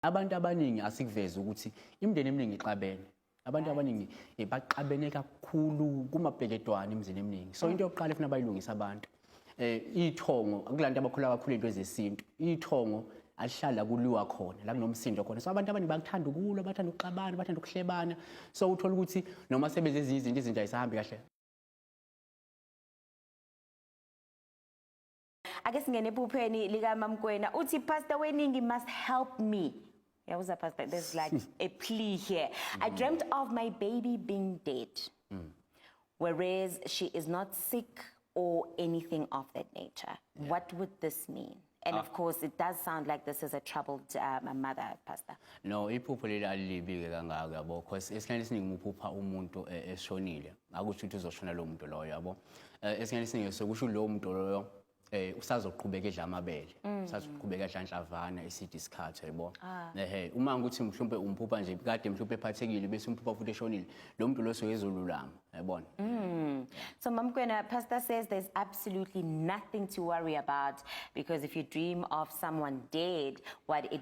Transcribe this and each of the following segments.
abantu abaningi asikuvezi ukuthi imindeni eminingi ixabene abantu abaningi eh, baxabene kakhulu kumabheketwane emizini eminingi so into yokuqala efuna bayilungisa abantu eh ithongo kulantu abakhula kakhulu into ezesintu ithongo alihlala kuliwa khona la kunomsindo khona so abantu abaningi bakuthanda ukulwa bathanda ukuxabana bathanda ukuhlebana so uthola ukuthi noma sebenze ezinye izinto izinto ayisahambi kahle ake singene ephupheni likamamkwena uthi pastor weningi must help me yawuza pastor there's like a plea here i mm. dreamt of my baby being dead mm. whereas she is not sick or anything of that nature yeah. what would this mean and ah. of course it does sound like this is a troubled um, mother pastor no iphupho leli alilibi-ke kangako yabo because esikhathini esiningi uphupha umuntu e, eshonile akusho ukuthi uzoshona lo muntu loyo yabo Eh, esinye isinye sokusho lowo muntu loyo eh usazoqhubeka edla amabele mm. usazoqhubeka edla inhlavana iside isikhathi yabo ah. ehe uma ukuthi mhlawumbe umphupha nje kade mhlawumbe ephathekile bese umphupha futhi eshonile lo muntu lo soyezolulama yabona mm. so mamkwena pastor says there's absolutely nothing to worry about because if you dream of someone dead what it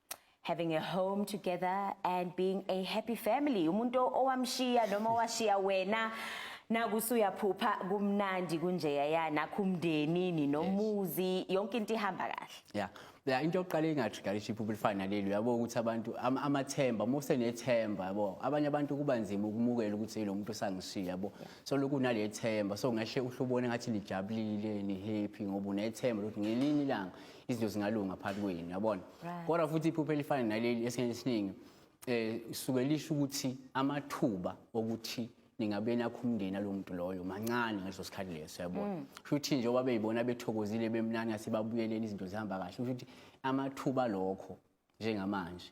having a home together and being a happy family umuntu owamshiya noma owashiya wena nakusuyaphupha kumnandi kunjeya ya nakho umndeni ninomuzi yonke into ihamba kahle yeah la into yokuqala engatrigaliship ubulifana leli uyabo ukuthi abantu amathemba uma usenethemba yabo abanye abantu kuba nzima ukumukela ukuthi lo muntu usangishiya yabo so lokhu nale themba so ngashe uhlubone ngathi lijabulile ni happy ngoba unethemba lokuthi ngelinye ilanga izinto zingalunga phakathi kwenu yabona Right. kodwa futhi iphupho elifana naleli esikhathini esiningi eh suke lisho ukuthi amathuba okuthi ningabe nakho umndeni alo muntu loyo mancane ngaleso sikhathi leso yabona Mm. kusho ukuthi nje oba beyibona bethokozile bemnani asebabuyeleni izinto zihamba kahle kusho ukuthi amathuba lokho njengamanje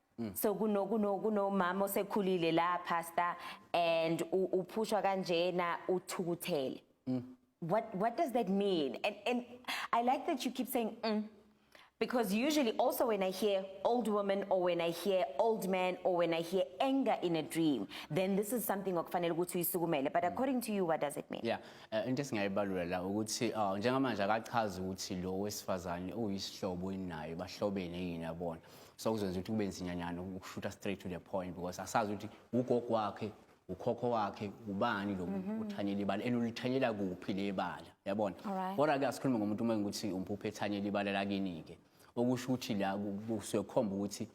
Mm. so kuno kuno kunomama osekhulile la pastor and uphushwa kanjena uthukuthele mm. what what does that mean and and i like that you keep saying mm, because usually also when i hear old woman or when i hear old man or when i hear anger in a dream then this is something okufanele ukuthi uyisukumele but according to you what does it mean yeah uh, into esingayibalulela ukuthi uh, njengamanje akachazi ukuthi lo wesifazane uyisihlobo inayo bahlobene yini yabona so kuzokwenza ukuthi kube nzinyanyana ukushutha straight to the point because asazi ukuthi ugogo wakhe ukhokho wakhe ubani lo muntu uthanyela mhm. ibala and ulithanyela kuphi le bala yabona kodwa ke asikhulume ngomuntu uma ukuthi umpuphe ethanyela ibala lakini-ke okusho ukuthi la kusuke kukhomba ukuthi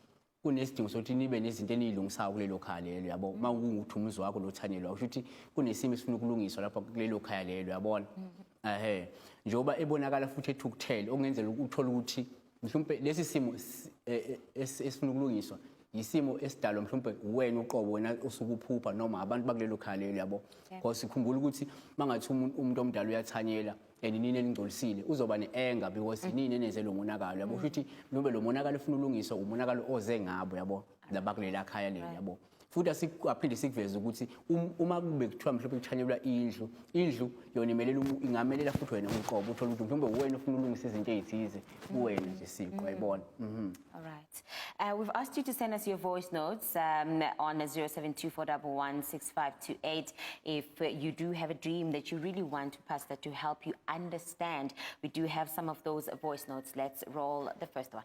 kunesidingo sokuthi nibe nezinto eniyilungisayo kulelo khaya lelo yabo uma mhm. kungukuthi umuzi wakho lothanyelwa kusho ukuthi kunesimo esifuna ukulungiswa lapha kulelo khaya lelo yabona mhm. ehe njengoba ebonakala futhi ethukuthele okungenzela ukuthola ukuthi mhlawumbe lesi simo e, e, esifuna ukulungiswa yisimo esidalwa mhlawumbe wena uqobo wena usukuphupha noma abantu bakulelo khaya lelo yabo because sikhumbula ukuthi mangathi umuntu omdala uyathanyela and nini elingcolisile uzoba ne-anger because mm. nini enenze lo monakalo yabo mm. futhi mhlawumbe lo monakalo ufuna ulungiswa umonakalo oze ngabo yabo labakulela khaya leli yabo futhi asikuphinde sikuveze ukuthi um, uma kube kuthiwa mhlawumbe kuthanyelwa indlu indlu yona imelela ingamelela futhi wena uqobo uthola ukuthi mhlawumbe uwena ofuna ulungisa izinto ezithize kuwena nje siqo mm. yayibona mhm. all right uh, we've asked you to send us your voice notes um, on 0724116528 if you do have a dream that you really want to pass that to help you understand we do have some of those voice notes let's roll the first one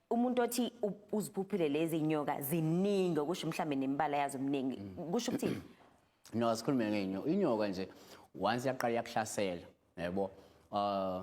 umuntu othi uziphuphile lezi nyoka ziningi okusho mhlambe nembala yazo mningi kusho ukuthi no asikhulume ngenyoka inyoka nje once yaqala yakuhlasela yebo uh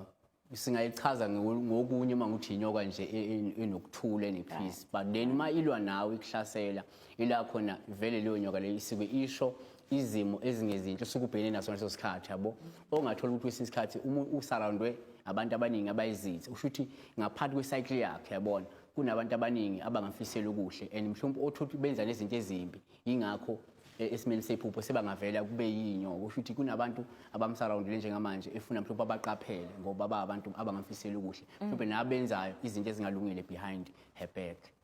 singayichaza ngokunye uma ngithi inyoka nje e, e, enokuthula enepeace but then uma ilwa nawe ikuhlasela ila khona vele leyo nyoka leyo isike isho izimo ezingezinhle usukubhekene naso ngaleso sikhathi yabo ongathola ukuthi kwesinye isikhathi uma usurroundwe abantu abaningi abayizithi usho ukuthi ngaphansi kwecycle yakhe yabona kunabantu abaningi abangafisela okuhle and mhlawumbe othothi benza nezinto ezimbi yingakho e, esimeni sephupho sebangavela kube yinyoko kusho ukuthi kunabantu abamsurroundile njengamanje efuna mhlawumbe abaqaphele ngoba ba abantu abangamfisela okuhle mhlawumbe nabenzayo izinto ezingalungile behind her back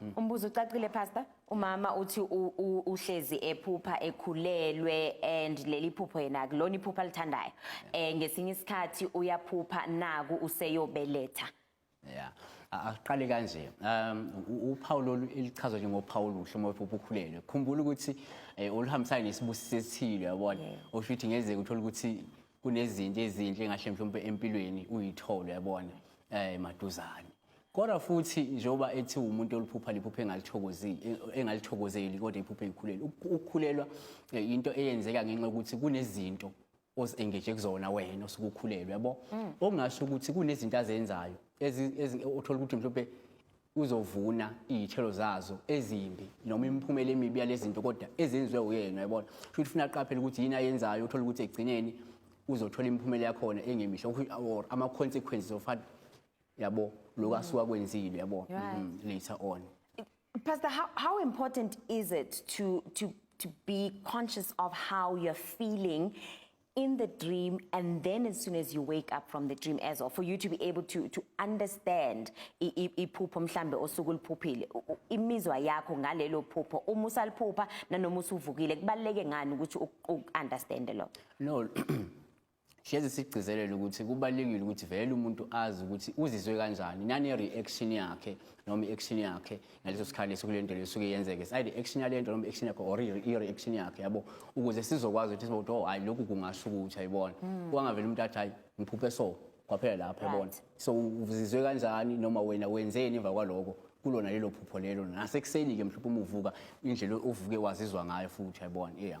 Mm. Umbuzo ucacile pastor umama uthi uhlezi ephupha ekhulelwe and leli phupho yena kulona iphupha lithandayo eh ngesinye isikhathi uyaphupha naku useyobeletha yeah aqale kanje um uphawu elichazwa njengophawu oluhle uma uphupha ukhulelwe khumbula ukuthi eh, oluhambisana nesibusiso esithile yabona osho ukuthi ngenzeka uthola ukuthi kunezinto ezinhle ngahle mhlawumbe empilweni uyithole yabona eh maduzane Kodwa futhi njengoba ethi umuntu oluphupha liphupha engalithokozeli e, engalithokozeli kodwa iphupha eyikhulele. Ukukhulelwa e, into eyenzeka ngenxa yokuthi kunezinto ozengeje kuzona wena osuke ukhulelwe yabo. Mm. Okungasho ukuthi kunezinto azenzayo othola ukuthi mhlawumbe uzovuna izithelo zazo ezimbi noma imiphumela emibi yalezi zinto kodwa ezenziwe uyena yabona. Futhi ufuna aqaphele ukuthi yini ayenzayo uthola ukuthi egcineni uzothola imiphumela yakhona engemihle or ama consequences of yabo lokho asuka kwenzile yabo Right. Mhm, later on Pastor, how, how important is it to, to, to be conscious of how you're feeling in the dream and then as soon as you wake up from the dream as well, for you to be able to, to understand i- i- iphupho mhlambe osuku uliphuphile, u- u- imizwa yakho ngalelo phupho, uma usaliphupha nanoma usuvukile, kubaluleke ngani ukuthi u- u-understande lokho? no Hlezi sigcizelela ukuthi kubalulekile ukuthi vele umuntu azi ukuthi uzizwe kanjani nane reaction yakhe noma i-action yakhe ngaleso sikhathi leso kule nto lesuke yenzeke is either action yale nto noma action yakhe or i-reaction yakhe yabo ukuze sizokwazi ukuthi sibokuthi oh hayi lokhu kungasho ukuthi ayibona hmm. kwangavele umuntu athi hayi ngiphuphe so kwaphela lapho yabona so uzizwe kanjani noma wena wenzeni emva kwaloko kulona lelo phupho lelo nasekuseni-ke mhlawumbe uma uvuka indlela ovuke wazizwa ngayo futhi yayibona iya